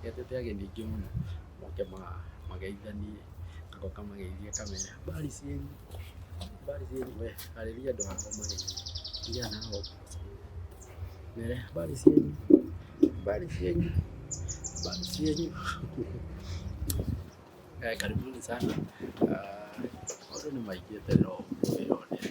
Nĩgetete ageni aingĩ mũno moke mageithanie, ngacoka ngamageithia ngamera mbari cianyu, mbari cianyu we, arĩria andũ akwa mageni, tigana na haha ũguo mere mbari cianyu, mbari cianyu, mbari cianyu. Karibuni sana, maũndũ nĩ maingĩ eterera o mũndũ wĩyonere.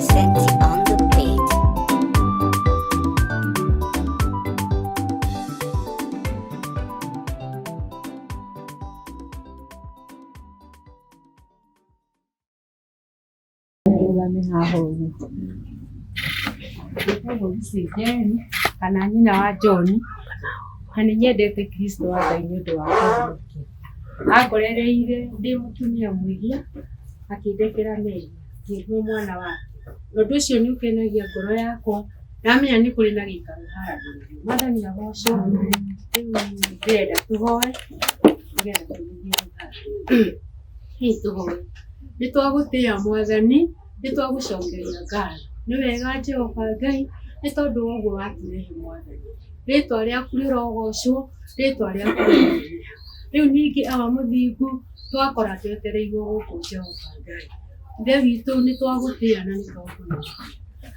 arũgame haha ũguo njĩtagwo Lucy Njeri kana nyina wa John na nĩ nyendete Kristo wa Ngai nĩ ũndũ wa kũmũkia angorereire ndĩ mũtumia mwĩhia akĩndekera mehia ngĩrwo mwana wake na ũndũ ũcio nĩ ũkenagia ngoro yakwa ndamenya nĩ kũrĩ na gĩikaro haragĩrĩrio mwathani agocwo rĩu ndĩrenda tũhoe nĩgetha tũgĩthiĩ gũthambĩra hihi tũhoe nĩ twagũtĩa mwathani nĩ twagũcokeria ngatho nĩ wega jehova ngai nĩ tondũ wa ũguo watũrehe mwathani rĩtwa rĩaku rĩrogocwo rĩtwa rĩaku rĩrogoocwo. rĩu ningĩ awa mũthingu twakora twetereirwo gũkũ Jehova Ngai, ithe witũ nĩ twagũtĩa na nĩ twakũnyita.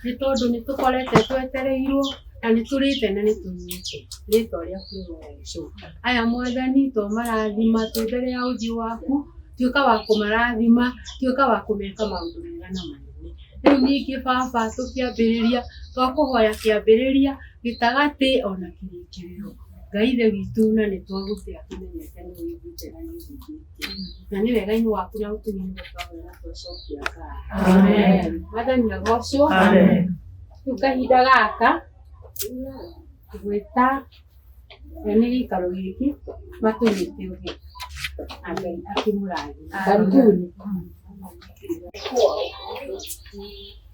Nĩ tondũ nĩ tũkorete twetereirwo na nĩ tũrĩte na nĩ tũnyuĩte rĩtwa rĩaku rĩrogocwo. Aya mwathani to marathima twĩ mbere ya ũthiũ waku, tuĩka wa kũmarathima, tuĩka wa kũmeka maũndũ mega na manene. Rĩu ningĩ Baba tũkĩambĩrĩria, twakũhoya kĩambĩrĩria, gĩtagatĩ ona kĩrĩkĩrĩro. ngai ithe witũ na nĩ twagũte akĩmenyete nĩ wĩiguĩte na nĩ ũiguĩte na nĩ wega-inĩ waku na ũtũmĩte twagwĩra twacokia ngai wathani na gocwo rĩu kahinda gaka gwĩta na nĩ gĩikaro gĩkĩ matũnyĩte ũgĩ na ngai akĩmũrathima karibuni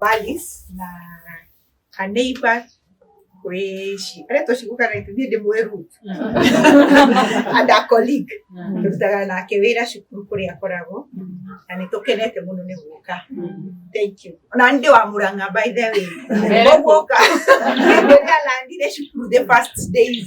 Valis na a neighbor we she aretwo cigukaga ithuĩ ndĩ mweru and a colleague tũrutaga nake wĩra cukuru kũrĩa akoragwo na nĩ tũkenete mũno nĩ gũka thank you ona nĩ ndĩ wa mũrang'a by the way koguo oka rĩrĩa landire cukuru the first days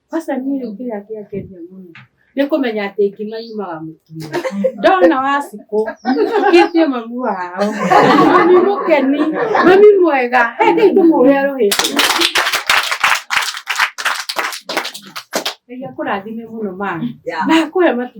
Aca niĩ rĩu kĩrĩa kĩangenia mũno nĩ kũmenya atĩ ngima yumaga mũtu-inĩ. Ndona Wacikũ akĩtie mamu wao. Mami mũkeni, mami mwega, reke tũmũhũre rũhĩ. Ngai akũrathime mũno mami na akũhe matu.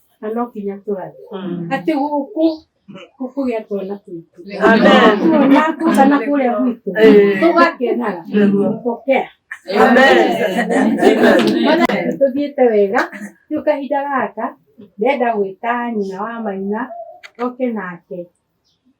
na no nginya tũrathiĩ Mm. atĩ gũkũ gũkũgĩa twana tũitũ Amen. tuona tũcana kũrĩa gwitũ Eh. tũgakenaga Nĩguo. gũkokea Amen. Mana tũthiĩte wega rĩu kahinda gaka ndenda gwĩta nyina wa maina oke nake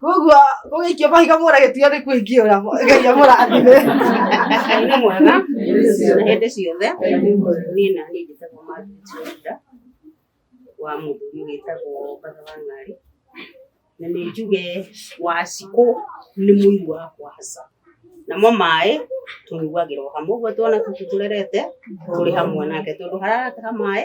Koguo gũgĩikio mahiga mũragĩtuo nĩ kũingĩũra Ngai amũrathime. Ngai nĩ mwega na hĩndĩ ciothe niĩ na niĩ njĩtagwo Margaret Wanyita wa mũndũ mũgĩtagwo Mbatha wa Ng'ari na nĩ njuge wacikũ nĩ mũiru wa kwaca namo maĩ tũnyuagĩra o hamwe ũguo twana tũtũ tũrerete tũrĩ hamwe nake tondũ hararataha maĩ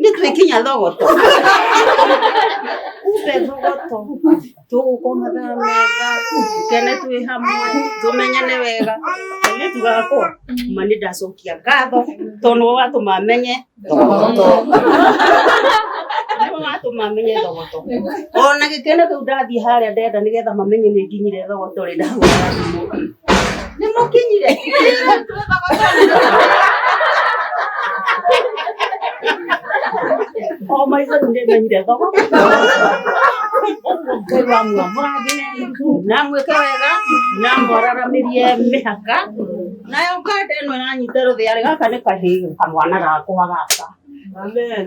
nĩ twĩkinya thogoto umbe thogoto tũgũkwo mathaa mega tũkene twĩ hamwe tũmenyane wega nĩ tugakwa ma nĩ ndacokia ngatho tondũ nĩwe watũma menye thogoto nĩwe watũma menye thogoto ona gĩkene kĩu ndathiĩ harĩa ndenda nĩgetha mamenye nĩ nginyire thogoto rĩ ndahũra thimũ Nĩ mũkinyire. O maitho nĩ ndĩmenyire thoko. Ũguo Ngai wa muoyo mũrathime na mwĩke wega na mwararamirie mĩhaka. Nayo nganda ĩno ĩranyita rũthĩa rĩ, gaka nĩ kahĩĩ kamwana gakwa gaka. Amen.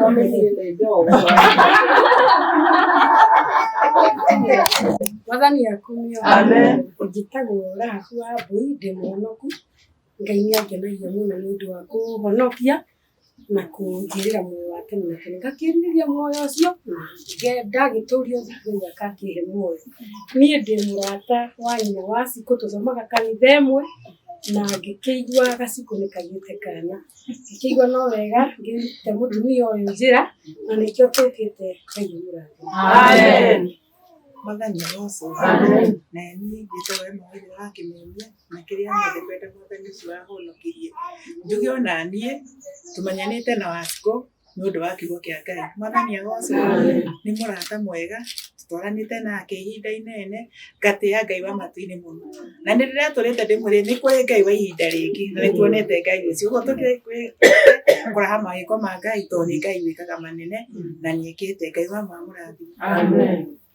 Wọ́n ní kí n lè dán ọ̀wọ́. Wazani ya kumi ya Amen. Ujitago ora huwa buide mwonoku. Ngai ni agena ya muno ni ndu wa kuhonokia na kujirira muoyo wake na kene ngakiriria muoyo ucio ngenda giturio thikũ iria kakihe muoyo niĩ ndĩ mũrata wa nyina wa cikũ tũthomaga kanitha ĩmwe na ngĩkĩigua gacikũ nĩ kagĩte kana Kĩguo no wega ngĩte mũtumia ũyũ njĩra na nĩkĩo tũkĩte Ngai mũrathe. Amen. Mwathani aroco. Amen. Na niĩ njĩtwo we mawĩra wakĩmemia na kĩrĩa mothe kwenda mwathani ũcio wahonokirie. Njuge ona niĩ tũmanyanĩte na Wacikũ nĩ ũndũ wa kiugo kĩa Ngai. Mwathani agocwo, nĩ mũrata mwega, tũtwaranĩte nake ihinda inene, ngatĩa Ngai wa matu-inĩ mũno. Na nĩ rĩrĩa tũrĩte ndĩmwĩre nĩ kũrĩ Ngai wa ihinda rĩngĩ, na nĩ tuonete Ngai ũcio. Ũguo tũkĩrĩ kũraha mawĩko ma Ngai, tondũ nĩ Ngai wĩkaga manene, na nĩ ekĩte. Ngai wa ma amũrathime.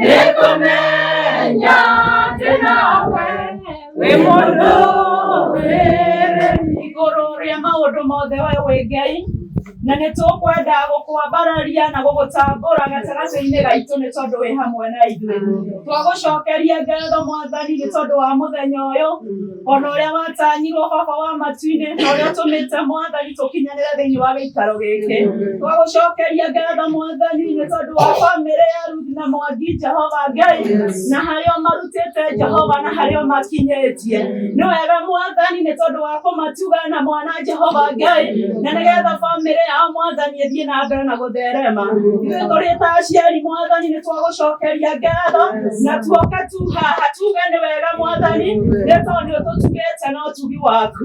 nĩkũmenya atĩ nawe wĩ mũndũ wĩrĩ igũrũ rĩa maũndũ mothe we wĩ ngai na nĩ tũkwenda gũkwambararia na gũgũtambũra gatagatĩ-inĩ gaitũ nĩ tondũ wĩ hamwe na ithuĩ twagũcokeria ngatho mwathani nĩ tondũ wa mũthenya ũyũ ona ũrĩa watanyirwo hoho wa matu-inĩ na ũrĩa ũtũmĩte mwathani tũkinyanĩre thĩinĩ wa gĩikaro gĩkĩ twagũcokeria ngatho mwathani nĩ tondũ wa bamĩrĩ ya ruthi na mwangi jehova ngai na harĩa ũmarutĩte jehova na harĩa ũmakinyĩtie nĩ wega mwathani nĩ tondũ wa kũmatuga na mwana jehova ngai na nĩgetha bamĩrĩ yao mwathani ĩthiĩ na mbere na gũtherema ithuĩ tũrĩ ta aciari mwathani nĩ twagũcokeria ngatho na tuoka tuhaha tuge nĩ wega mwathani nĩ tondũ ũtũtugĩte na ũtugi waku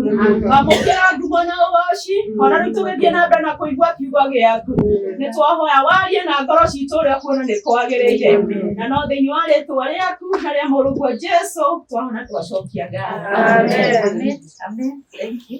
amũkĩra ngumo na ũgoci ona rĩu tũgĩthiĩ na mbere na kũigua kiugo gĩaku nĩ twahoya warie na ngoro citũ ũrĩa kuona nĩ kwagĩrĩire na no thĩinĩ wa rĩtwa rĩaku na rĩa mũrũguo jesu twahona twacokia ngatho Amen. Amen. Amen. Thank you.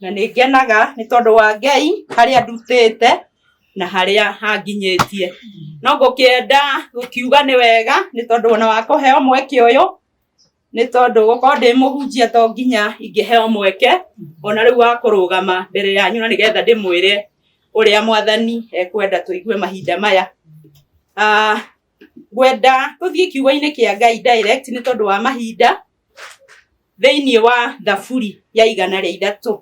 Na nĩ ngenaga nĩ tondũ wa Ngai, harĩa ndutĩte na harĩa hanginyĩtie. No ngũkĩenda gũkiuga nĩ wega nĩ tondũ ona wa kũheo mweke ũyũ, nĩ tondũ gũkorwo ndĩ mũhunjia to nginya ingĩheo mweke ona rĩu wa kũrũgama mbere yanyu na nĩgetha ndĩmwĩre ũrĩa Mwathani ekwenda tũigue mahinda maya. Ngwenda tũthiĩ kiugo-inĩ kĩa Ngai direct nĩ tondũ wa mahinda. thĩinĩ wa thaburi ya igana rĩa ithatũ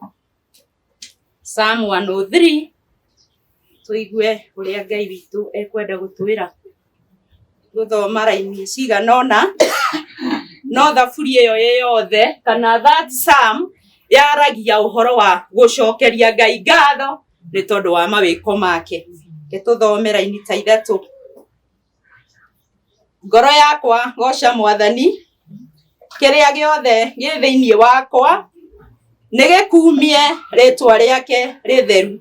Psalm 103 tũigue ũrĩa Ngai witũ ekwenda gũtwĩra gũthoma raini cigana ũna no thaburi ĩyo ĩ yothe kana that psalm yaragia ũhoro wa gũcokeria Ngai ngatho nĩ tondũ wa mawĩko make. Nĩ tũthome raini ta ithatũ. Ngoro yakwa goca Mwathani, kĩrĩa gĩothe gĩ thĩinĩ wakwa nĩ gĩkumie rĩtwa rĩake rĩtheru.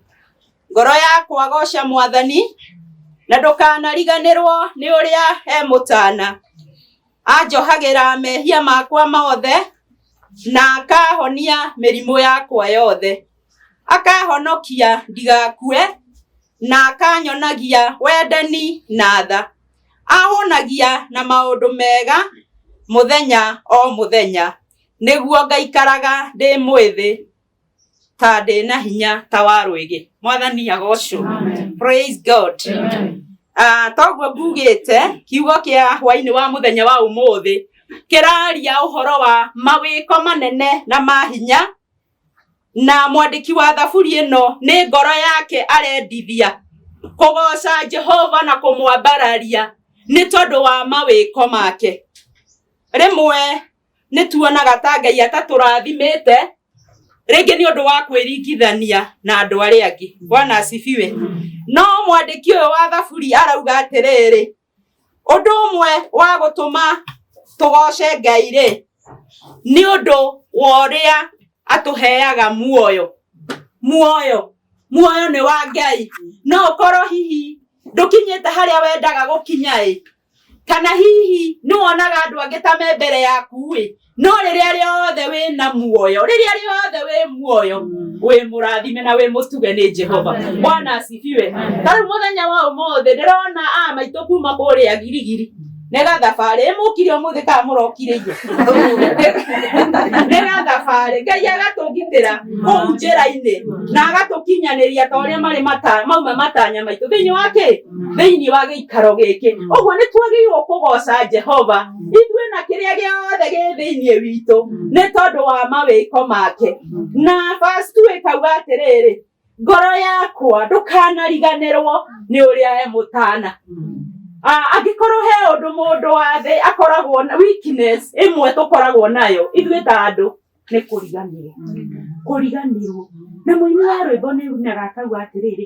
Ngoro yakwa goca Mwathani, na ndũkanariganĩrwo nĩ ũrĩa he mũtana. Anjohagĩra mehia makwa mothe, na akahonia mĩrimũ yakwa yothe. Akahonokia ndigakue. na akanyonagia wendani na tha. Ahũnagia na maũndũ mega mũthenya o mũthenya, nĩguo ngaikaraga ndĩ mwĩthĩ ta ndĩ na hinya ta wa rwĩgĩ. Mwathani agocwo. Praise God. Ah, toguo ngugĩte kiugo kĩa hwainĩ wa mũthenya wa ũmũthĩ kĩraria ũhoro wa mawĩko manene na ma hinya na mwandĩki wa thaburi ĩno nĩ ngoro yake arendithia kũgoca Jehova na kũmwambararia nĩ tondũ wa mawĩko make. Rĩmwe nĩ tuonaga ta Ngai atatũrathimĩte rĩngĩ nĩ ũndũ wa kwĩringithania na andũ arĩa angĩ. Bwana asifiwe. No mwandĩki ũyũ wa thaburi arauga atĩrĩrĩ, Ũndũ ũmwe wa gũtũma tũgoce Ngai-rĩ, nĩ ũndũ wa ũrĩa atũheaga muoyo. Muoyo, muoyo nĩ wa Ngai. No ũkorwo hihi ndũkinyĩte harĩa wendaga gũkinya-ĩ, kana hihi nĩwonaga andũ angĩ ta me mbere yaku-ĩ, no rĩrĩa rĩothe wĩ na muoyo rĩrĩa rĩothe wĩ muoyo wĩ mũrathime na wĩ mũtuge nĩ jehova bwana asifiwe ta rĩu mũthenya wa ũmũthĩ ndĩrona a maitũ kuma kũrĩa girigiri nĩga thabarĩ ĩmũkire ũmũthĩ kana mũrokirĩirio nĩga thabarĩ ngai agatũgitĩra kũu njĩra-inĩ na agatũkinyanĩria ta ũrĩa marĩ mata- mauma matanya maitũ thĩinĩ wa kĩ thĩinĩ wa gĩikaro gĩkĩ ũguo nĩ twagĩrĩirwo kũgoca jehova ithuĩ na kĩrĩa gĩothe gĩ thĩinĩ witũ nĩ tondũ wa mawĩko make na verse two ĩkauga atĩrĩrĩ ngoro yakwa ndũkanariganĩrwo nĩ ũrĩa e mũtana Ah, angĩkorwo he ũndũ mũndũ wa thĩ akoragwo na weakness ĩmwe tũkoragwo nayo ithuĩ ta andũ nĩ kũriganĩrwo kũriganĩrwo na mũini wa rwĩmbo nĩ unaga akauga atĩrĩrĩ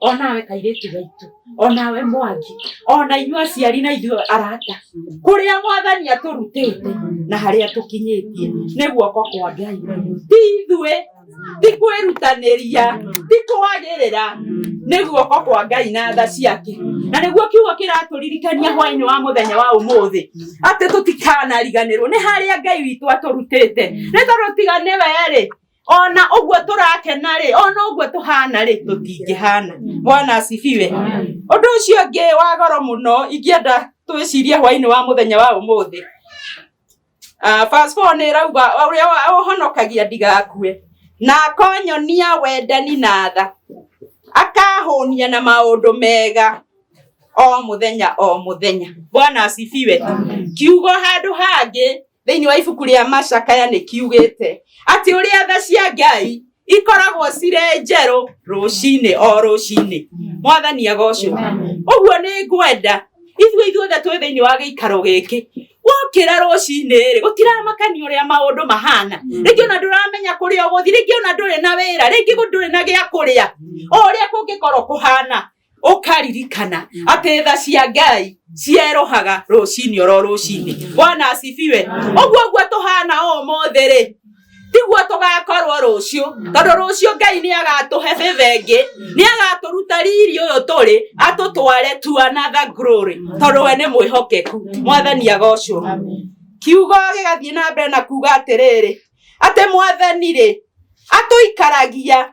onawe kairĩtu gaitũ onawe mwangi ona inyuĩ aciari na ithuĩ arata kũrĩa mwathani atũrutĩte na harĩa tũkinyĩtie nĩ guoko kwa ngai ti ithuĩ ti kwĩrutanĩria ti kwagĩrĩra nĩ guoko kwa ngai na tha ciake na nĩguo kiugo kĩratũririkania hwainĩ wa mũthenya wa ũmũthĩ atĩ tũtikanariganĩrwo nĩ harĩa ngai witũ atũrutĩte nĩ tondũ tiga nĩ werĩ ona ũguo tũrakena-rĩ ona ũguo tũhana-rĩ tũtingĩhana bwana asifiwe ũndũ ũcio ũngĩ wa goro mũno ingĩenda twĩcirie hwainĩ wa mũthenya wa ũmũthĩ Ah, verse four nĩ ĩrauga ũrĩa wa- ũhonokagia ndigakue na akonyonia wendani na tha akahũnia na maũndũ mega o mũthenya o mũthenya bwana asifiwe kiugo handũ hangĩ thĩinĩ wa ibuku rĩa macakaya nĩ kiugĩte atĩ ũrĩa tha cia ngai ikoragwo cirĩ njerũ rũcinĩ o rũcinĩ mwathani agocwo ũguo nĩ ngwenda ithuĩ ithuothe twĩ thĩinĩ wa gĩikaro gĩkĩ wokĩra rũcinĩ rĩ gũtiramakania ũrĩa maũndũ mahana rĩngĩ ona ndũramenya kũrĩa ũgũthi rĩngĩ ona ndũrĩ na wĩra rĩngĩ ndũrĩ na gĩa kũrĩa o ũrĩa kũngĩkorwo kũhana ukaririkana mm. atä tha cia ngai cierohaga rucini oro rucini mm. bwana asifiwe mm. uguo guo tuhana umuthi ri tiguo tugakorwo rucio tondu rucio ngai ni agatuhe bibe ingi ni agaturuta riri uyu turi atutware to another glory tondu we ni mwihokeku mwathani agocwo kiugo gigathie na mbere na kuga atiriri ati mwathani ri atuikaragia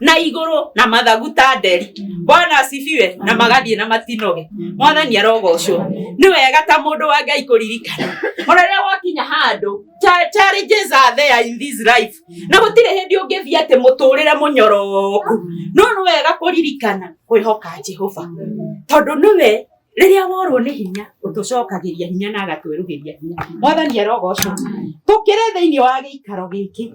na iguru na mathagu ta nderi bwana asifiwe na magathie na matinoge mwathani arogocwo ni wega ta mundu wa ngai kuririkana ona riria wakinya handu challenges are there in this life na gutire hindi ungithie ati muturire munyoroku no ni wega kuririkana kwihoka jehova tondu niwe riria worwo ni hinya utucokagiria hinya na agatwerugiria hinya mwathani arogocwo tukire thiini wa giikaro giki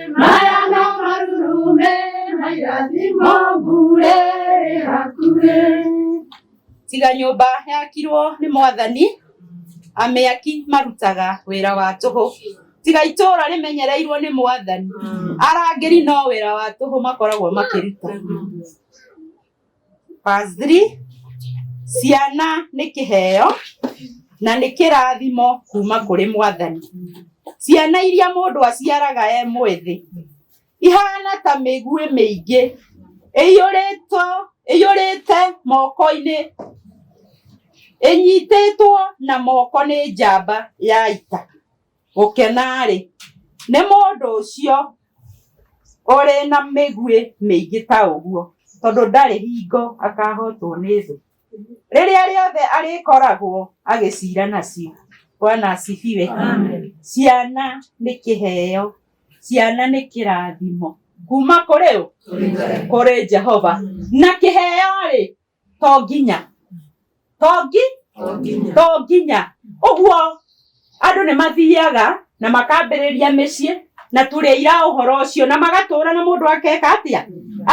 Mayana marume, mayazimo bure hakure. Tiga nyũmba yakirwo nĩ mwathani, amĩaki marutaga wĩra wa tũhũ. Tiga itũũra rĩmenyereirwo nĩ mwathani, arangĩri no wĩra wa tũhũ makoragwo makĩruta. Verse 3, ciana nĩ kĩheo na nĩ kĩrathimo kuma kũrĩ mwathani ciana iria mũndũ aciaraga e mwĩthĩ ihana ta mĩguĩ mĩingĩ ĩiyũrĩtwo ĩiyũrĩte moko-inĩ ĩnyitĩtwo na moko nĩ njamba ya ita Gũkena-rĩ, nĩ mũndũ ũcio ũrĩ na mĩguĩ mĩingĩ ta ũguo, tondũ ndarĩ hingo akahootwo nĩ thũ. Rĩrĩa rĩothe arĩkoragwo agĩciira nacio. Bwana asifiwe. Ciana nĩ kĩheo. Ciana nĩ kĩrathimo. Kuuma kũrĩ ũ? Kũrĩ Jehova. Na kĩheo-rĩ, to nginya to ngi to nginya ũguo andũ nĩ mathiaga na makambĩrĩria mĩciĩ na tũrĩa ira ũhoro ũcio na magatũra na mũndũ akeka atĩa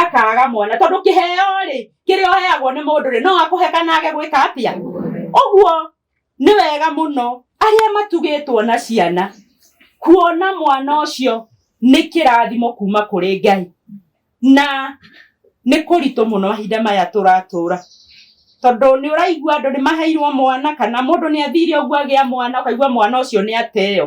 akaga mwana tondũ kĩheo rĩ kĩrĩa ũheagwo nĩ mũndũ rĩ no akũhe kana age gwĩka atĩa ũguo nĩ wega mũno arĩa matugĩtwo na ciana kuona mwana ũcio nĩ kĩrathimo kuma kũrĩ ngai na nĩ kũritũ mũno mahinda maya tũratũra tondũ nĩ ũraigua andũ nĩ maheirwo mwana kana mũndũ nĩ athire ũguo agĩa mwana ũkaigua mwana ũcio nĩ ateo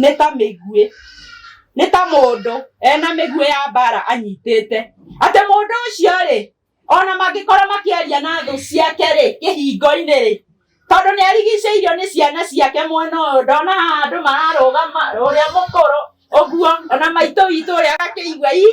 nĩ ta mĩguĩ nĩ ta mũndũ ena mĩguĩ ya mbara anyitĩte atĩ mũndũ ũcio rĩ ona mangĩkorwo makĩaria na thũ ciake rĩ kĩhingo-inĩ rĩ tondũ nĩ arigicĩirio nĩ ciana ciake mwena ũyũ ndona haha andũ mararũgama ũrĩa mũkũrũ ũguo ona maitũ witũ ũrĩa agakĩigua ii.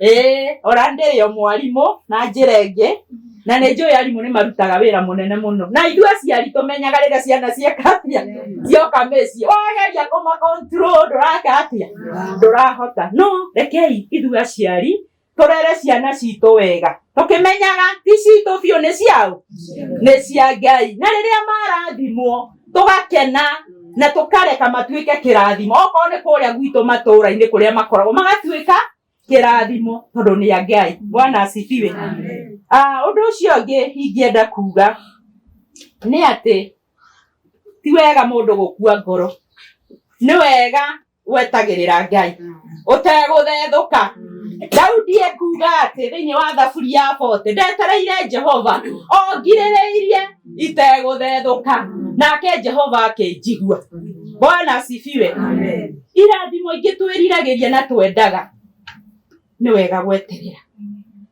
Eh, ora ndĩrĩo mwarimũ na njĩra ĩngĩ na nĩ njũĩ arimũ nĩ marutaga wĩra mũnene mũno na ithuĩ aciari tũmenyaga rĩrĩa ciana cieka atĩa cioka mĩciĩ wageria kũma control ndũraka atĩa ndũrahota no rekei ithuĩ aciari tũrere ciana citũ wega tũkĩmenyaga ti citũ biũ nĩ ciaũ nĩ cia ngai na rĩrĩa marathimwo tũgakena na tũkareka matuĩke kĩrathimo okorwo nĩ kũrĩa gwitũ matũũra-inĩ kũrĩa makoragwo magatuĩka kĩrathimo tondũ nĩ a ngai bwana asifiwe Ah, ũndũ ũcio ũngĩ ingĩenda kuga nĩ atĩ ti wega mũndũ gũkua ngoro nĩ wega gwetagĩrĩra ngai ũtegũthethũka daudi ekuga atĩ thĩinĩ wa thaburi ya bote ndetereire jehova ongirĩrĩirie itegũthethũka nake jehova akĩnjigua bwana asifiwe irathimo ingĩ twĩriragĩria na twendaga nĩ wega gweterera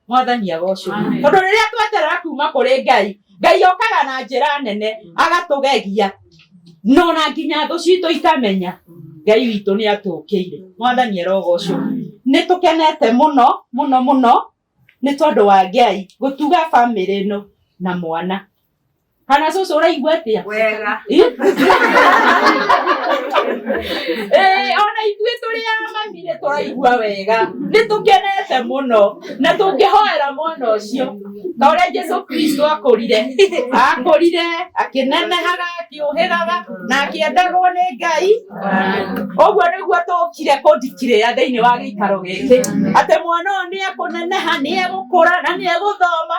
mwathani agocwo tondũ rĩrĩa tweterera kuma kũrĩ ngai ngai okaga na njĩra nene agatũgegia no na nginya thũ citũ ikamenya ngai witũ nĩ atũkĩire mwathani arogocwo nĩ tũkenete mũno mũno mũno nĩ tondũ wa ngai gũtuga bamĩrĩ ĩno na mwana kana cũcũ ũraigua atĩa wega ona ithuĩ tũrĩ a mami nĩ tũraigua wega nĩ tũkenete mũno na tũngĩhoera mwana ũcio ta ũrĩa jesu kristo akũrire akũrire akĩnenehaga akĩũhĩgaga na akĩendagwo nĩ ngai ũguo nĩguo tũkire kũndikirĩra thĩinĩ wa gĩikaro gĩkĩ atĩ mwana ũyũ nĩ ekũneneha nĩ egũkũra na nĩ egũthoma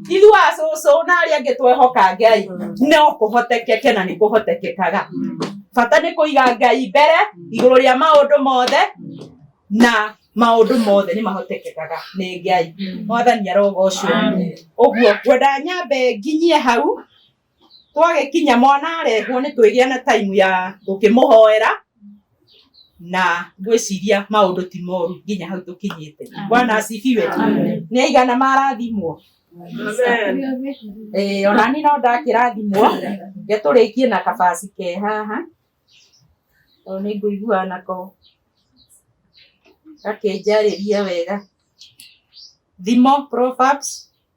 Ithuĩ acũcũ na arĩa angĩ twehoka Ngai no kũhotekeke na nĩ kũhotekekaga. Bata nĩ kũiga Ngai mbere igũrũ rĩa maũndũ mothe na maũndũ mothe nĩ mahotekekaga nĩ Ngai. Mwathani arogocwo. Ũguo ngwenda nyambe nginyie hau. Twagĩkinya mwana arehwo nĩ twĩgĩa na time ya gũkĩmũhoera na ngwĩciria maũndũ ti moru nginya hau tũkinyĩte. Bwana asifiwe. Nĩ aigana marathimwo? Eh, ona niĩ no ndakĩrathimwo. Reke tũrĩkie na kabaci ke haha tondũ nĩ ngũiguaga nako gakĩnjarĩria wega. Thimo Proverbs.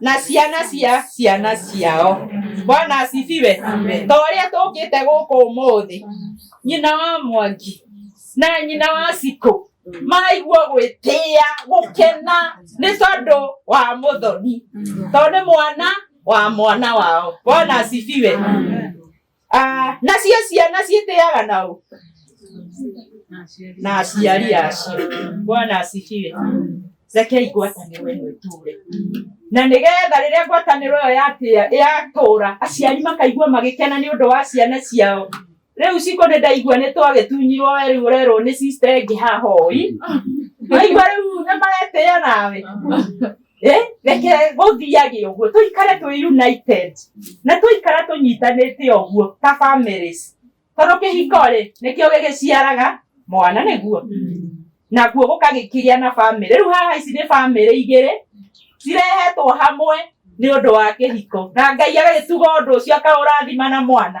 na ciana cia ciana ciao bwana asifiwe ta ũrĩa tũkĩte gũkũ ũmũthĩ nyina wa mwangi na nyina wa cikũ maigua gwĩtĩa gũkena nĩ tondũ wa mũthoni tondũ nĩ mwana wa mwana wao bwana asifiwe Ah, nacio ciana ciĩtĩaga na ũ na aciari acio bwana asifiwe rekei ngwatanĩro ĩno ĩtũre na nĩgetha rĩrĩa ngwatanĩro ĩyo yatĩa yatũra aciari makaigua magĩkena nĩ ũndũ wa ciana ciao rĩu ciko nĩ ndaigua nĩ twagĩtunyirwo we rĩu ũrerwo nĩ sister ĩngĩ haha ũi waigua rĩu nĩ maretĩa nawe Eh, reke gũthiage ũguo tũikare twĩ united na tũikara tũnyitanĩte ũguo ta families tondũ kĩhiko rĩ nĩkĩo gĩgĩciaraga mwana nĩguo naguo gũkagĩkĩgĩa na famĩlĩ rĩu haha ici nĩ famĩlĩ igĩrĩ cirehetwo hamwe nĩ ũndũ wa kĩhiko na ngai agagĩtuga ũndũ ũcio akaũrathima na mwana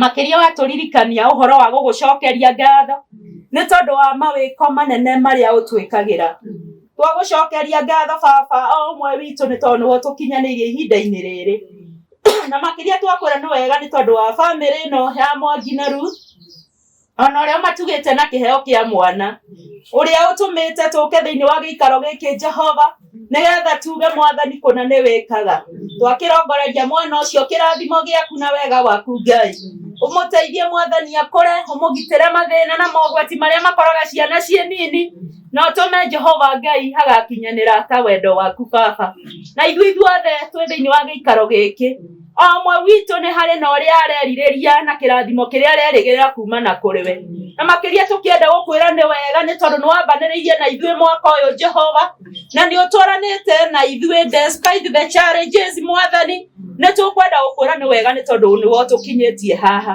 makĩria watũririkania ũhoro wa gũgũcokeria ngatho nĩ tondũ wa mawĩko manene marĩa ũtwĩkagĩra twagũcokeria ngatho baba o ũmwe witũ nĩ tondũ nĩwe ũtũkinyanĩirie ihinda-inĩ rĩrĩ na makĩria twakwĩra nĩ wega nĩ tondũ wa bamĩrĩ ĩno ya mwangi na ruth ona ũrĩa ũmatugĩte na kĩheo kĩa mwana ũrĩa ũtũmĩte tũke thĩinĩ wa gĩikaro gĩkĩ jehova nĩgetha tuge mwathani kũna nĩ wĩkaga twakĩrongoreria mwana ũcio kĩrathimo gĩaku na wega waku ngai ũmũteithie mwathani akũre ũmũgitĩre mathĩna na mogwati marĩa makoraga ciana ciĩ nini na ũtũme jehova ngai agakinyanĩra ta wendo waku baba na ithuĩ ithuothe twĩ thĩinĩ wa gĩikaro gĩkĩ O ũmwe witũ nĩ harĩ na ũrĩa arerirĩria na kĩrathimo kĩrĩa arerĩgĩrĩra kumana kũrĩ we. Na makĩria tũkĩenda gũkwĩra nĩ wega nĩ tondũ nĩwambanĩrĩirie na ithuĩ mwaka ũyũ Jehova, na nĩ ũtwaranĩte na ithuĩ despite the challenges mwathani, nĩ tũkwenda gũkwĩra nĩ wega nĩ tondũ nĩwe ũtũkinyĩtie haha.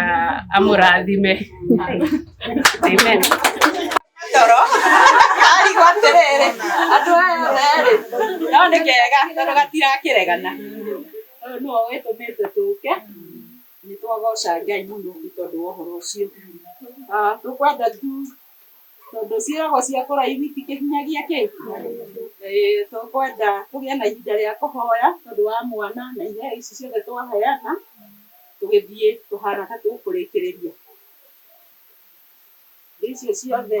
ah, amũrathime amen toro arigwo atĩrĩrĩ andũ aya otherĩ no nĩ kega tondũ gatirakĩregana ũyũ nĩwe wĩtũmĩte tũke nĩ twagoca ngai mũno nĩ tondũ wa ũhoro ũcio Ah, tũkwenda tu Tondũ ciĩragwo cia kũraihu itikĩnyagia kĩ? Ĩĩ tũkwenda tũgĩe na ihinda rĩa kũhoya tondũ wa mwana na iheo ici ciothe twaheana, tũgĩthiĩ tũhana ta tũkũrĩkĩrĩria. Indo icio ciothe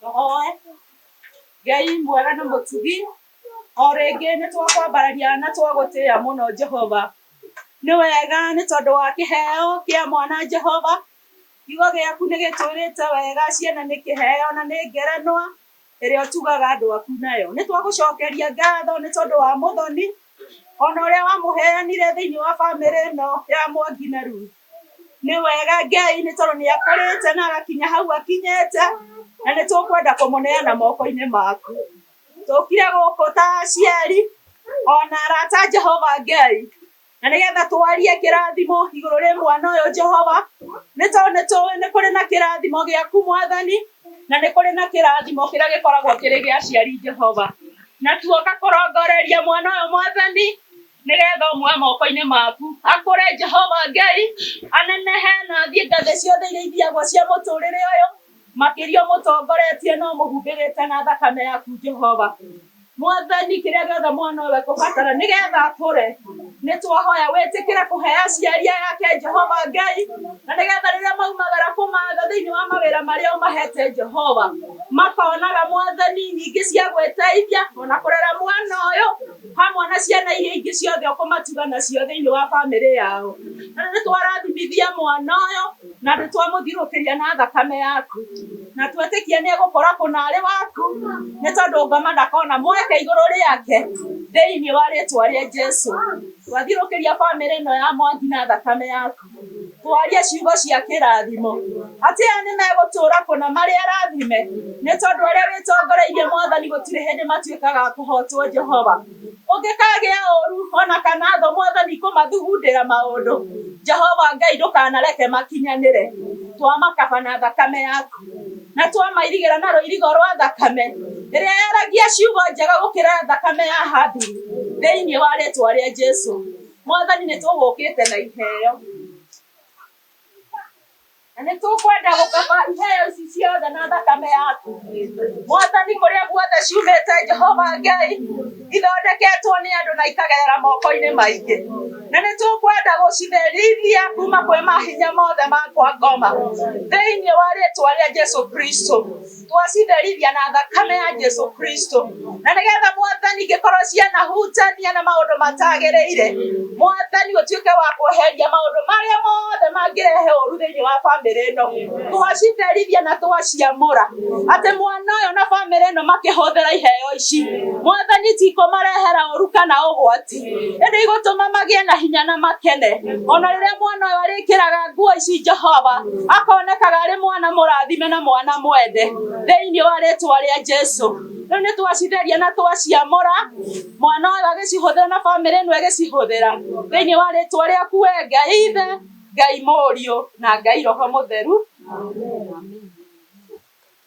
Tũhoe. Ngai mwega na mũtugi, o rĩngĩ nĩ twakwambararia na twagũtĩĩa mũno Jehova. Nĩ wega nĩ tondũ wa kĩheo kĩa mwana Jehova. Kiugo gĩaku nĩ gĩtwĩrĩte wega ciana nĩ kĩheo na nĩ ngerenwa ĩrĩa ũtugaga andũ aku nayo. Nĩ twagũcokeria ngatho nĩ tondũ wa mũthoni, ona ũrĩa wamũheanire thĩinĩ wa bamĩrĩ ĩno ya Mwangi na Ruth. Nĩ wega Ngai nĩ tondũ nĩ akũrĩte na agakinya hau akinyĩte, na nĩ tũkwenda kũmũneana moko-inĩ maku. Tũkire gũkũ ta aciari, ona arata a Jehova Ngai, na nĩgetha twarie kĩrathimo igũrũ rĩa mwana ũyũ Jehova, nĩ tondũ nĩ tũĩ nĩ kũrĩ na kĩrathimo gĩaku mwathani, na nĩ kũrĩ na kĩrathimo kĩrĩa gĩkoragwo kĩrĩ gĩa aciari Jehova. Na tuoka kũrongoreria mwana ũyũ mwathani. nĩgeetha ũmũhe moko-inĩ maku. Akũre Jehova Ngai, anenehe na athiĩ ngathĩ ciothe iria ithiagwo cia mũtũũrĩre ũyũ, makĩria ũmũtongoretie na ũmũhumbĩrĩte na thakame yaku Jehova. Mwathani, kĩrĩa gĩothe mwana ũyũ ekũbatara nĩgeetha akũre, nĩtwahoya wĩtĩkĩre kũhe aciari aya ake Jehova Ngai, na nĩgeetha rĩrĩa maumagara kũmatha thĩinĩ wa mawĩra marĩa ũmahete Jehova, makonaga Mwathani nyingĩ cia gwĩteithia ona kũrera mwana ũyũ, hamwe na ciana iria ingĩ ciothe ũkũmatuga nacio thĩinĩ wa bamĩrĩ yao. Na nĩ twarathimithia mwana ũyũ na nĩ twamũthirũkĩria na thakame yaku, na twetĩkia nĩ egũkũra kũnarĩ waku, nĩ tondũ ngoma ndakona mweke igũrũ rĩake thĩinĩ wa rĩtwa rĩa Jesu. Twathirũkĩria bamĩrĩ ĩno ya Mwangi na thakame yaku. Twarie ciugo cia kĩrathimo. Atĩ aya nĩ megũtũũra kũna marĩ arathime, nĩ tondũ arĩa wĩtongoreirie Mwathani gũtirĩ hĩndĩ matuĩkaga a kũhootwo Jehova. Ũngĩkagĩa ũũru o na kana thũ Mwathani kũmathugundĩra maũndũ, Jehova Ngai ndũkanareke makinyanĩre. Twamakaba na thakame yaku, na twamairigĩra na rũirigo rwa thakame, ĩrĩa yaragia ciugo njega gũkĩra thakame ya Habili, thĩinĩ wa rĩĩtwa rĩa Jesu. Mwathani nĩ tũgũkĩte na iheo na nĩ tũkwenda gũkaba iheo ici ciothe na thakame yaku mwathani kũrĩa guothe ciumĩte jehova ngai ithondeketwo nĩ andũ na ikagerera moko-inĩ maingĩ na nĩ tũkwenda gũcitherithia kuma kwĩ mahinya mothe makwa ngoma thĩinĩ wa rĩtwa rĩa jesu kristo twacindarithia na thakame ya Jesu Kristo na nĩgetha mwathani ingĩkorwo cianahutania na maũndũ matagĩrĩire mwathani ũtuĩke wa kweheria maũndũ marĩa mothe mangĩrehe ũru thĩinĩ wa bamĩrĩ ĩno twacindarithia na twaciamũra atĩ mwana ũyũ na bamĩrĩ ĩno makĩhũthĩra iheo ici mwathani tikũmarehera ũru kana ũgwati ĩndĩ igũtũma magĩe na hinya na makene ona rĩrĩa mwana ũyũ arĩkĩraga nguo ici jehova akonekaga arĩ mwana mũrathime na mwana mwende thĩinĩ wa rĩtwa rĩa jesu rĩu nĩ twacitheria na twaciamũra mwana ũyũ agĩcihũthĩra na bamĩrĩ ĩno ĩgĩcihũthĩra thĩinĩ wa rĩtwa rĩaku we ngai ithe ngai mũriũ na ngai roho mũtheru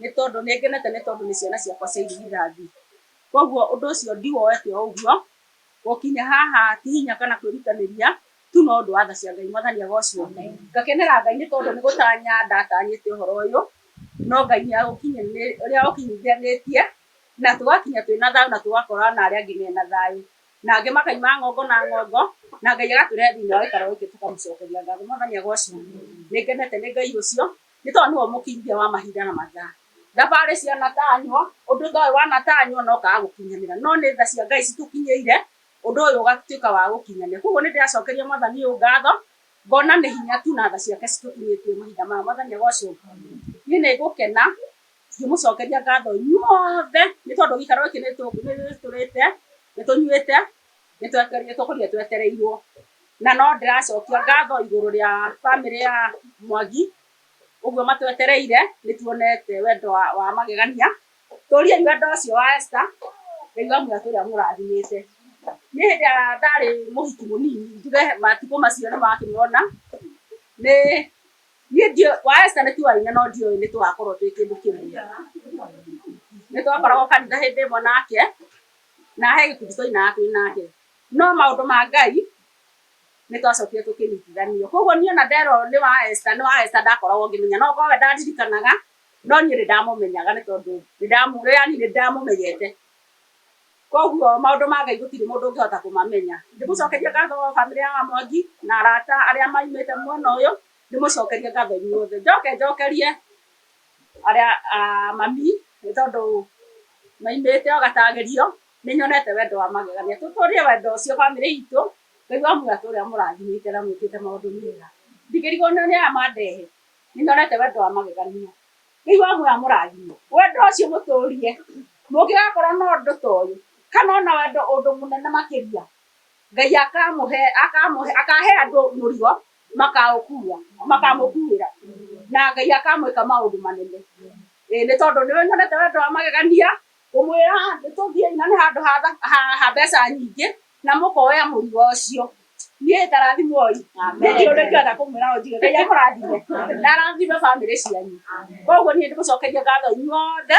nĩ tondũ nĩ ngenete nĩ tondũ nĩ ciana ciakwa cia irigithathi. Kwoguo ũndũ ũcio ndiwoete o ũguo, gũkinya haha ti hinya kana kwĩrutanĩria tu no ũndũ wa tha cia Ngai. Mwathani agocwo. Ngakenera Ngai nĩ tondũ nĩ gũtanya ndatanyĩte ũhoro ũyũ, no Ngai nĩ aũkinyithanĩtie na tũgakinya twĩna thayũ na tũgakora ona arĩa angĩ mena thayũ. Na angĩ makauma ng'ongo na ng'ongo na Ngai agatũrehe thĩinĩ wa gĩikaro gĩkĩ tũkamũcokeria ngatho. Mwathani agocwo. Nĩ ngenete nĩ Ngai ũcio. nĩ tondũ nĩwe mũkinyithia wa mahinda na mathaa. Thabarĩ cianatanywo, ũndũ ta ũyũ wanatanywo na ũkaga gũkinyanĩra, no nĩ tha cia Ngai citũkinyĩire, ũndũ ũyũ ũgatuĩka wa gũkinyanĩra. Koguo nĩ ndĩracokeria Mwathani ũyũ ngatho, ngona nĩ hinya tu na tha ciake citũkinyĩtie mahinda maya. Mwathani agocwo. Niĩ nĩ ngũkena ngĩmũcokeria ngatho inyuothe nĩ tondũ gĩikaro gĩkĩ nĩ tũrĩte, nĩ tũnyuĩte. Nĩ twetereirwo tũkũrire twetereirwo, na no ndĩracokia ngatho igũrũ rĩa bamĩrĩ ya Mwangi, ũguo matwetereire, nĩ tuonete wendo wa magegania. Tũriai wendo ũcio wa Esther, Ngai wa muoyo atũre amũrathimĩte. Niĩ hĩndĩ ĩrĩa ndarĩ mũhiki mũnini, njuge matukũ macio nĩ makĩmona, nĩ, niĩ ndiũĩ, wa Esther nĩ tuoaine no ndiũĩ nĩ tũgakorwo twĩ kĩndũ kĩmwe. Nĩ twakoragwo kanitha hĩndĩ ĩmwe nake, na he gĩkundi twainaga twĩ nake no maũndũ ma ngai nĩ twacokire tũkĩnyitithanio koguo niĩ ona ndera ũyũ nĩ wa Esther nĩ wa Esther ndakoragwo ngĩmenya no korwo we ndandirikanaga no niĩ nĩ ndamũmenyaga nĩ tondũ nĩ ndamu- rĩrĩa niĩ nĩ ndamũmenyete koguo maũndũ ma ngai gũtirĩ mũndũ ũngĩhota kũmamenya ndĩmũcokerie ngatho bamĩrĩ ya mwangi na arata arĩa maimĩte mwena ũyũ ndĩmũcokerie ngatho inyuothe njoke njokerie Arĩa a mami nĩ tondũ maimĩte o gatagĩrio, nĩ nyonete wendo wa magegania. Tũtũrie wendo ũcio bamĩrĩ itũ, Ngai wa muoyo atũre amũrathimĩte na mwĩkĩte maũndũ mega. Ndingĩrigwo nĩ aya mandehe, nĩ nyonete wendo wa magegania. Ngai wa muoyo amũrathime. Wendo ũcio mũtũrie, mũngĩgakorwo na ũndũ ta ũyũ, kana ona wendo ũndũ mũnene makĩria, Ngai akamũhe, akamũhe, akahe andũ mũrigo. Makaũkuua, makamũkuuĩra, na Ngai akamwĩka maũndũ manene. Ĩĩ, nĩ tondũ nĩwe nyonete wendo wa magegania, ngũmwĩra atĩ tũthiĩi, na nĩ handũ ha tha- ha ha mbeca nyingĩ, na mũkoya mũrigo ũcio. Niĩ ĩĩ ta rathimwo-ĩ, nĩ kĩĩ ũrĩa ingĩhota kũmwĩra ũnjige. Ngai amũrathime, na arathime bamĩrĩ cianyu. Koguo niĩ nĩ ndĩmũcokeria ngatho inyuothe.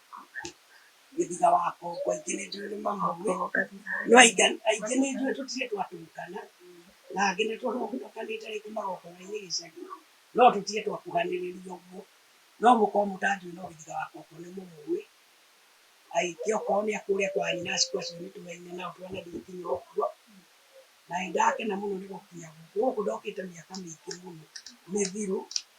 gĩthiga wa kongo aingĩ nĩ njũĩ nĩ mamũĩ no aingĩ aingĩ nĩ njũĩ tũtirĩ twatũrukana na angĩ nĩ tũrũkanĩte rĩngĩ magongona-inĩ gĩcagi no tũtirĩ twakuhanĩrĩria ũguo no mũkorwo mũtanjũĩ no gĩthiga wa kongo nĩ mũmũĩ aingĩ okorwo nĩ akũrĩa kwa nyina aciku acio nĩ tũraine nao twanathiĩ nginya ũguo na nĩ ndakena mũno nĩ gũkinya gũkũ gũkũ ndokĩte mĩaka mĩingĩ mũno mĩthiru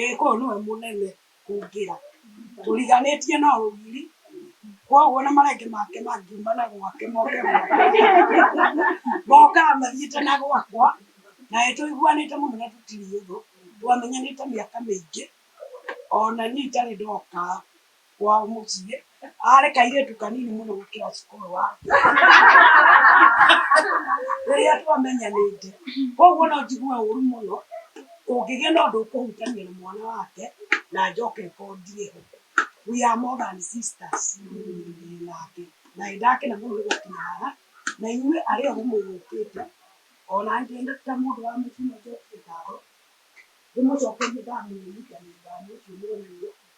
Ĩĩka ũyũ nĩwe mũnene kũngĩra. Tũriganĩtie na ũgiri, kwoguo ona marenge make mangiuma na gwake moke gwakwa, mokaga mathiĩte na gwakwa. Na nĩ tũiguanĩte mũno na tũtirĩ ũthũ, twamenyanĩte mĩaka mĩingĩ, o na niĩ itarĩ ndoka wa mũciĩ arĩ kairĩtu kanini mũno gũkĩra cukuru wa rĩrĩa twamenyanĩte koguo no njigue ũru mũno kũngĩgĩa na ũndũ ũkũhutania na mwana wake na njoke ngorwo ndirĩ ho we are more than sisters nake na nĩ ndakena mũno nĩ gũkinya haha na inyuĩ arĩa othe mũgũkĩte ona niĩ ndĩ ta mũndũ wa mũciĩ no njokie ngatho ndĩmũcokerie ngatho nĩ ũndũ wa ũndũ ũcio mũronire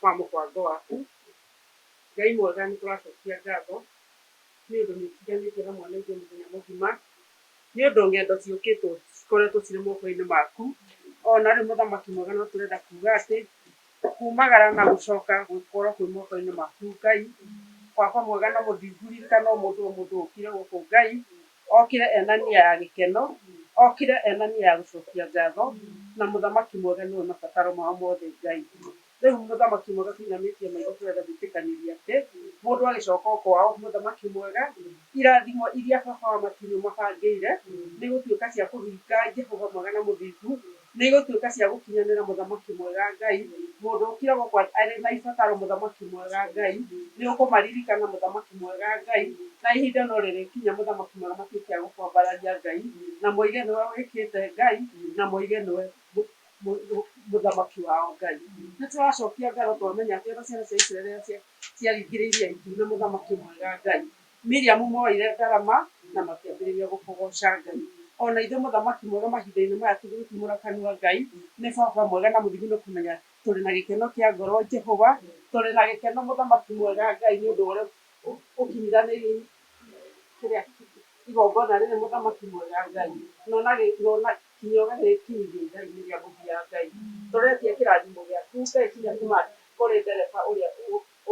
kwa mũbango waku. Ngai mwega nĩ tũracokia ngatho nĩ ũndũ nĩ ũtiganĩtie na mwana itũ mũthenya mũgima, nĩ ũndũ ng'endo ciũkĩtwo cikoretwo cirĩ moko-inĩ maku. Ona rĩu mũthamaki mwega no tũrenda kuga atĩ kumagara na gũcoka gũkorwo kwĩ moko-inĩ maku Ngai. Baba mwega na mũthingu ririkana o mũndũ o mũndũ ũkire gũkũ Ngai, Okire ena nia ya gĩkeno, okire ena nia ya gũcokia ngatho, na mũthamaki mwega nĩwe mabataro mao mothe Ngai. Rĩu mũthamaki mwega tũinamĩtie maitho tũrenda gwĩtĩkanĩria atĩ mũndũ agĩcoka o kwao, mũthamaki mwega, irathimo iria Baba wa matu nĩũmabangĩire nĩ gũtuĩka cia kũhinga Jehova mwega na mũthingu Nĩigũtuĩka cia gũkinyanĩra Mũthamaki mwega Ngai, mũndũ ũkira gũkwa arĩ na ibataro Mũthamaki mwega Ngai, nĩũkũmaririkana Mũthamaki mwega Ngai, na ihinda no rĩrĩkinya Mũthamaki mwega matuĩke a gũkwambararia Ngai, na moige nĩwe wĩkĩte Ngai, na moige nĩwe Mũthamaki wao Ngai. Nĩtũracokia ngatho twamenya atĩ ona ciana cia Isiraeli rĩrĩa ciaringire Iria Itune Mũthamaki mwega Ngai, Miriamu mooire ndarama na makĩambĩrĩria gũkũgooca Ngai. O na Ithe Mũthamaki mwega mahinda-inĩ maya tũgĩgĩtumũra kanua, Ngai nĩ Baba mwega na mũthimi nĩ kũmenya tũrĩ na gĩkeno kĩa ngoro. Jehova, tũrĩ na gĩkeno Mũthamaki mwega Ngai nĩ ũndũ wa ũrĩa ũkinyiranĩirie kĩrĩa igongona rĩrĩ Mũthamaki mwega Ngai, na ũna kinya ũgagĩkinyithia ithaa-inĩ rĩa mũthia Ngai. Tũretia kĩrathimo gĩaku Ngai kinya kuma kũrĩ ndereba ũrĩa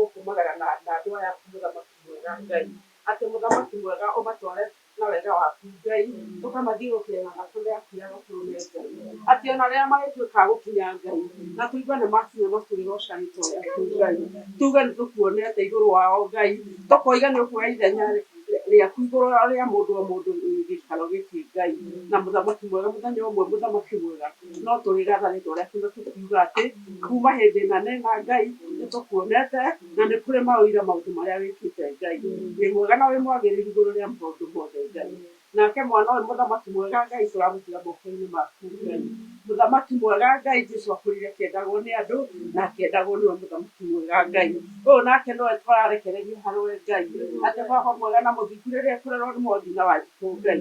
ũkumagara na, na andũ aya aku mũthamaki mwega Ngai, atĩ mũthamaki mwega ũmatware na wega waku Ngai, tũkamathiũrũkĩre na matũre akia gatũrũme Ngai, atĩ ona rĩrĩa marĩtuĩka a gũkinya Ngai, na tũigue nĩ makinya matwĩre ũca rĩtwa rĩaku Ngai, tuge nĩ tũkuonete igũrũ wao Ngai, tũkoiga nĩ ũkuoya ithenya rĩ, rĩaku igũrũ rĩa mũndũ o mũndũ wĩ gĩikaro gĩkĩ Ngai, na mũthamaki mwega mũthenya ũmwe mũthamaki mwega No tũrĩratha nĩ ũndũ wa ũrĩa kiugo kĩu kiuga atĩ, Kuuma hĩndĩ ĩna nĩ na Ngai, nĩ tũkuonete, na nĩ kũrĩ maũira maũndũ marĩa wĩkĩte, Ngai. Wĩ mwega na wĩ mwagĩrĩru igũrũ rĩa maũndũ mothe, Ngai. Nake Mwana ũyũ, Mũthamaki mwega, Ngai, tũramũtiga moko-inĩ maku, Ngai. Mũthamaki mwega, Ngai, Jesu akũrire akĩendagwo nĩ andũ, na akĩendagwo nĩwe Mũthamaki mwega, Ngai. Ũyũ nake nĩwe tũrarekererio harĩ we, Ngai. Atĩ Baba mwega na mũthingu rĩrĩa ekũrerwo nĩ mothiũ na wanjikũ, Ngai.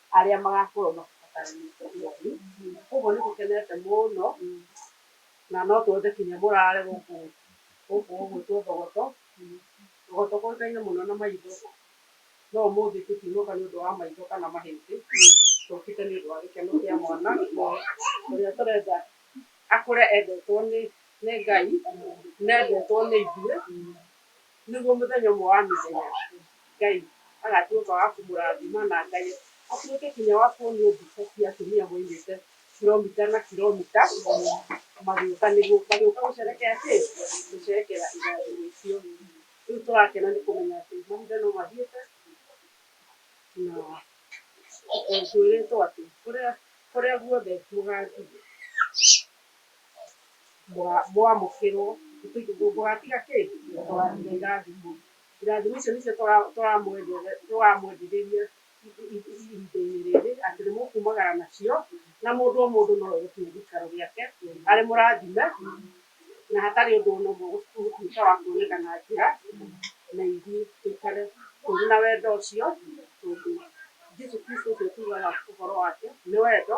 arĩa magakorwo makĩbataranĩtie ũhooreri. Kwoguo nĩ tũkenete mũno na no twende kinya mũraare gũkũ gũkũ ũguo tũthogoto tũthogoto tũĩkaine mũno na maitho, no ũmũthĩ tũtinũka nĩ ũndũ wa maitho kana mahĩndĩ, tũũkĩte nĩ ũndũ wa gĩkeno kĩa mwana ũrĩa tũrenda akũre endetwo nĩ Ngai na endetwo nĩ ithuĩ Nĩguo mũthenya ũmwe wa mĩthenya Ngai agatuĩka wa kũmũrathima na Ngai atuĩke kinya wa kuonio mbica cia atumia moimĩte kiromita na kiromita magĩũka nĩguo magĩũka gũcerekea kĩ? Gũcerekea irathimo icio. Rĩu tũrakena nĩ kũmenya atĩ mahinda no mathiĩte na twĩrĩtwo atĩ kũrĩa kũrĩa guothe mũgathiĩ. mũamũkĩrwo, mũgatiga kĩ? Mũgatiga irathimo. Irathimo icio nĩcio tũramwendithĩria ihinda-inĩ rĩrĩ atĩ nĩ mũkumagara nacio, na mũndũ o mũndũ no oe gĩtĩ gĩikaro gĩake arĩ mũrathime, na hatarĩ ũndũ o na ũmwe ũgũtuĩka wa kuoneka na njĩra, na ithuĩ tũikare tũrĩ na wendo ũcio, tondũ Jesu Kristo ũcio tugaga ũhoro wake nĩ wendo.